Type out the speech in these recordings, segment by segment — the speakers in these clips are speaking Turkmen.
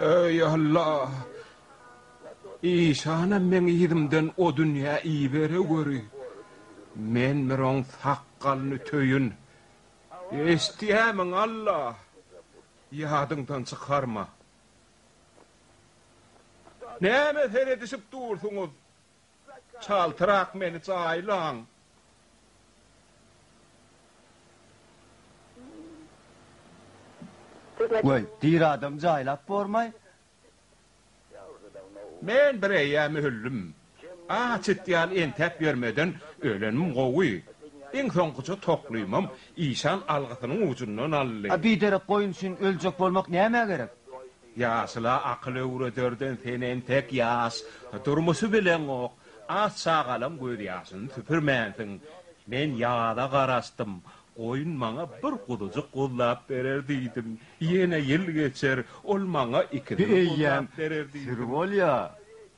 Eý, Alla! Işanam meň yzymdan o dünýä ibere göri. Men bir oň sakgalyny töýün. Eşidýämiň, Alla? Ýadyňdan çykarma. Nämä seredişip dursuňyz? Çaltrak meni jaýlaň. Weý, diri adamy jaýlap bormaý, Men bir eýýäm öldüm. Aç it ýaly entäp ýörmeden ölenim gowy. Iň soňkuja toklymam işan algysynyň ujundan aldy. A biderek goýun üçin öljek bolmak nämä gerek? Ýaşula akyl öwrederden sen entek ýaş durmuşy bileňok. Az çagalyň gözýaşyny süpürmänsiň. Men ýaza garaşdym. Goýun maňa bir guzujyk guzlap berer diýdim. Ýene ýyl geçer, ol maňa ikisini guzlap berer diýdim.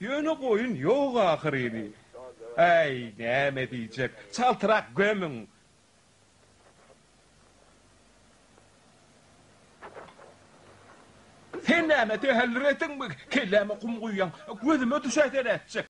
Ýöne goýun ýok ahyryny. Äý, näme diýjek, çaltrak gömüň! Sen näme, tähellür etdiňmi? Kelläme gum guýýaň, gözüme düşäýse nätjek?